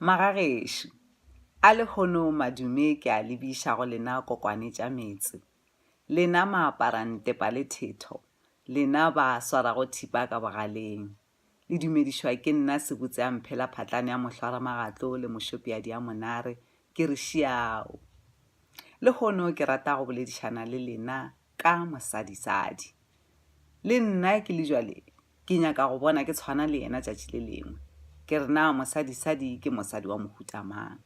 Magagešo, a lehono madume ke a lebiša go lena kokwane tša metse, lena maaparantepa le thetho, lena ba swarago thipa ka bogaleng. Le dumedišwa ke nna sebutse a mphela phatlane ya mohlwaramagatlo le mošopeadi ya monare, ke re šiao! Lehono ke rata go boledišana le lena ka mosadisadi. Le nna ke le jwale ke nyaka go bona ke tshwana le yena tšatši le lengwe. Ke re na mosadisadi ke mosadi wa mohuta mang?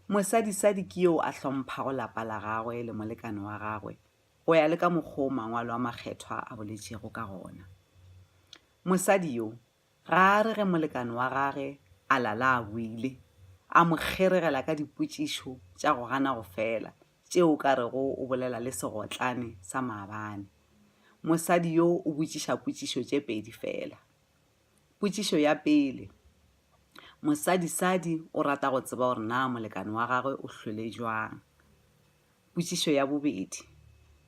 Mosadisadi ke yeo a hlomphago lapa la gagwe le molekane wa gagwe go ya le ka mokgwa o mangwalo a makgethwa a boletšego ka gona. Mosadi yo Ga a re ge molekane wa gage a lala a boile, a mo kgeregela ka dipotšišo tša go gana go fela tšeo o ka rego o bolela le segotlane sa maabane. Mosadi yo o botšiša potšišo tše pedi fela. Potšišo ya pele, Mosadisadi o rata go tseba gore na molekane wa gagwe o hlwele bjang. Potšišo ya bobedi,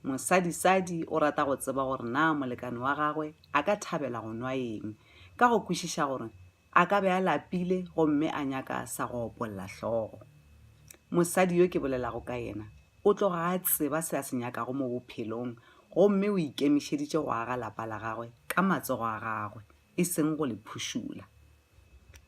Mosadisadi o rata go tseba gore na molekane wa gagwe a ka thabela go nwa eng ka go kwešiša gore a ka be a lapile gomme a nyaka sa go opolla hlogo. Mosadi yo ke bolelago ka yena o tloga a tseba se a se nyakago mo bophelong gomme o ikemišeditše go aga lapa la gagwe ka matsogo a gagwe, e seng go le phušula.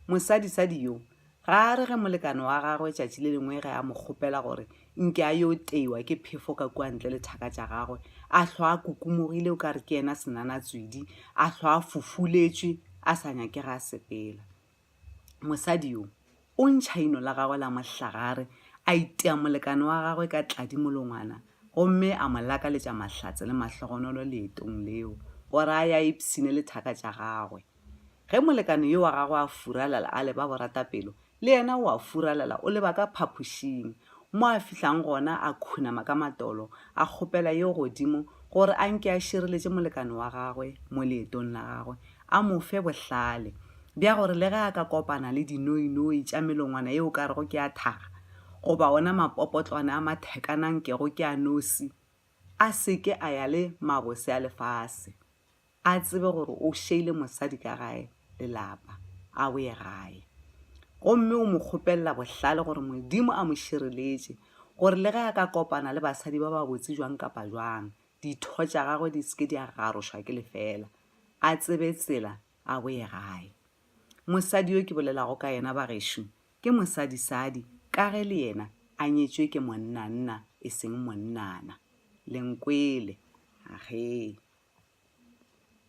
Mosadisadi yo ga a re ge molekane wa gagwe tšatši le lengwe ge a mo kgopela gore nke a yo teiwa ke phefo ka kua ntle le thaka tša gagwe, a hlwa a kukumogile o ka re ke yena senanatswidi, a hlwa a fofuletšwe a sa nyake ga a sepela. Mosadi yo o ntšha ino la gagwe la mohlagare, a itea molekane wa gagwe ka tladi molongwana gomme a mo lakaletša mahlatse le mahlogonolo leetong leo, gore a ya a ipshine le thaka tša gagwe. Ge molekane yo wa gagwe a furalela a leba boratapelo, le yena o a furalela o leba ka phapošing, mo a fihlang gona a khunama ka matolo a kgopela yo godimo gore a nke a šireletše molekane wa gagwe mo leetong la gagwe, a mo fe bohlale bja gore le ge a ka kopana le dinoinoi tša melongwana ye o ka rego ke a thaga goba wona mapopotlwane a mathekanang kego ke a nosi, a se ke a ya le mabose a lefase. a tsebe gore o šeile mosadi ka gae lelapa a boye gae gomme o mo kgopelela bohlale gore modimo a mo šireletše gore le ge a ka kopana le basadi ba ba botse jwang kapa jwang ditho tša gagwe di seke di a garošwa ke lefela a tsebe tsela a boye gae mosadi yo ke bolelago ka yena bagešo Ke mosadisadi ka ge le yena a nyetšwe ke monnanna e seng monnana. Le nkwele? Ahee.